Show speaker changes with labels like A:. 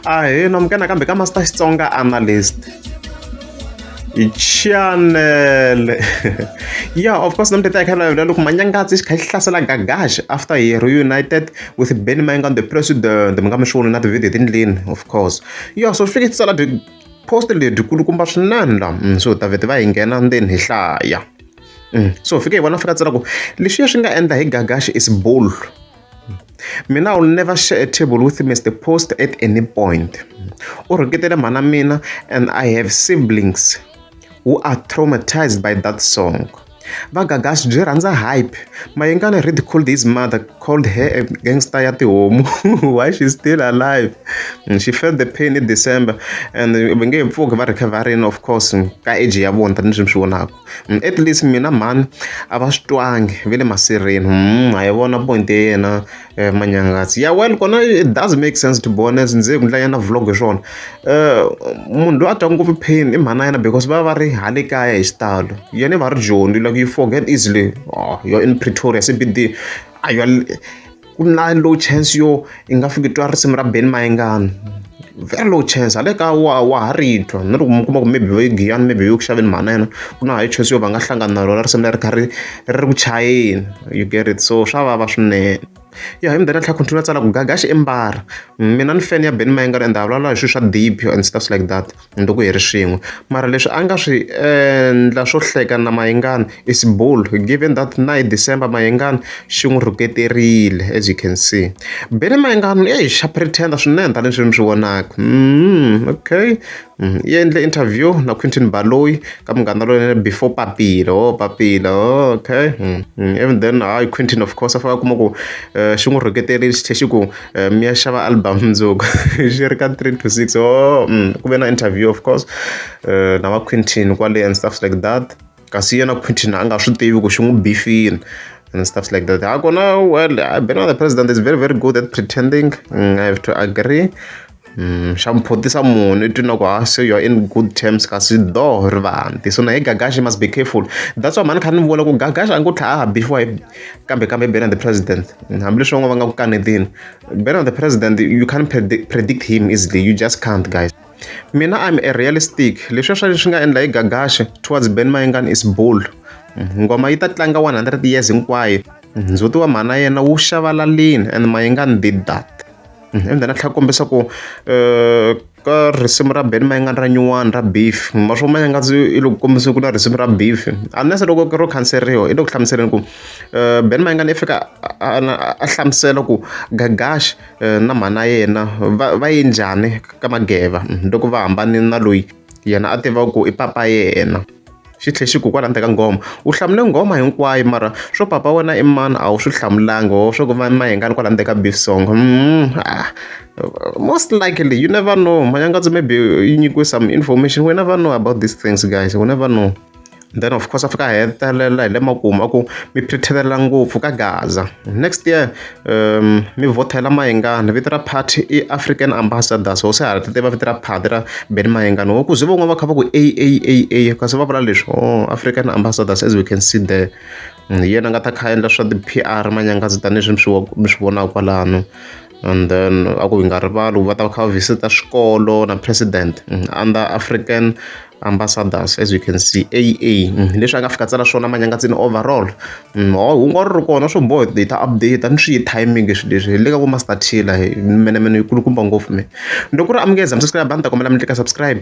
A: a hi no mukana kambe ka master xitsonga analyst hi chanele yeah of course namtete a kha lavela loko manyangatsi xi kha xi hlasela gagash after he reunited with benny mayinga on the president mi nga mi swi voni na tivideo tindleni of course yeah so fike tsala post lebyi kulukumba swinene la mm, so davhete va hi nghena ndzeni hi hlaya mm, so fike hi vona fika tsala ku leswiya swi nga endla hi gagash is bull mina will never share a table with mr post at any point u rhuketele mhana mina and i have siblings who are traumatized by that song vagagas byi rhandza hype mayengana read called his mother called her a gangster ya tihomu why she still alive mm, she felt the pain in december and va nge pfuki va recoverini of course ka age ya vona tanihi swi mi swi vonaka Mm, at least mina mhani a va swi twangi ve le masirheni mm, a yi vona point ya yena eh, manyangatsi ya well kona it does make sense to be honest ndzi ku ndlanyana vlog hi swona eh, munhu loyi a twa ngopfu pain i mhana yena because va va ri hale kaya hi xitalo yena i va ri joni like you forget easily oh, you're in pretoria cbd a ku na low chance yo i nga fiki twa risimu ra ben mayengani very low chance hale ka wa wa ha ri twa na loko mi kuma ku maybe va yi giyani maybe yi ku xaveni mhana yena ku na high chance yo va nga hlangana na rona risimu leri kha ri ri ri ku chayeni you get it so swa vava swinene ya hi mi dana tlha continue tsala ku gagaxi i mbara mina ni fan ya ben mayengani and a vulavula hi swilo swa deep and stuff like that ni loko hi ri swin'we mara leswi a nga swi endla swo hleka na mayengani is bull given that na hi december mayengani xi n'wi rhuketerile as you can see bele mayengani eyi xa pretender swinene tanihi leswi mi swi vonaka mm, okay mm, yi endle interview na quintin baloyi ka munghana loyi before papila o oh, papila oh, okay mm, mm, even then hayi quintin of course a faka kuma ku um xi n'wi rhuketerile xi tlhe xi ku Eh, mi ya xava album mundzuku xi ri ka three to six o mm, ku ve na interview of course eh, na va quintin kwale and stuff like that kasi yena quintin a nga swi tivi ku xi n'wi bifini and stuff like that ha kona well being the president is very very good at pretending mm, i have to agree xa mi phuntisa munhu i twi na ku ha se you are in good terms kasi dooh ri va hanti so na hi gagaxi must be careful that's why mhani kha ni vula ku gagaxi a ni ku tlhaha bixiwa hi kambe kambe bena the president hambileswi van'wana va nga ku kanetini bena the president you can't predict him easily you just can't guys mina i'm a realistic leswi swa leswi nga endla hi gagaxi towards ben mayengani is bull ngoma yi ta tlanga 100 years hinkwayo ndzhuti wa mhana yena wu xavalalini and mayinga ni did that and then a tlhela kombisa ku um ka risimu ra beni mayingani ra nyuwani ra beef maswo ma nga ndzi i loko kombisa ku na risimu ra beef unless loko ro khanseriwa i le ku hlamuseleni ku um beni mayingani i fika a hlamusela ku gagash eh, na mhana yena va va yi njhani ka mageva loko va hambane na loyi yena a tiva ku i papa yena xi tlhe xi ku kwala ndzeni ka nghoma u hlamule nghoma hinkwayo mara swo papa wena i mani a wu swi hlamulanga ho swa ku va mayengani kwala ndzeni ka beef song mm, ah. most likely you never know manyangatso maybe yi nyikiwe some information we never know about these things guys we never know then of course a fika a hetelela hi le makumu a ku mi phirithelela ngopfu ka gaza next year mi vhothela mayengani vito ra party i African ambassadors ho se ha ri tiva vito ra party ra Benny Mayengani ho ku ze van'wani va kha va ku A_A_A_A kasi va vula leswi ohh African ambassadors as we can see there hi yena a nga ta kha a endla swa ti-P_R manyangazi tanihileswi mi swi mi swi vonaka kwalano and then a ku hi nga rivali va ta va kha va visit-a swikolo na president under African ambassadors as you can see AA leswi a nga fika tsala swona manyangatsini overall hungu a ri ri kona swo boha hi ta update ni swi yi timing leswi leswi le ka ku master tiller mene mene yi kulukumba ngopfu me loko ri amukeza mi subscribe a ni ta kombela mi tlika subscribe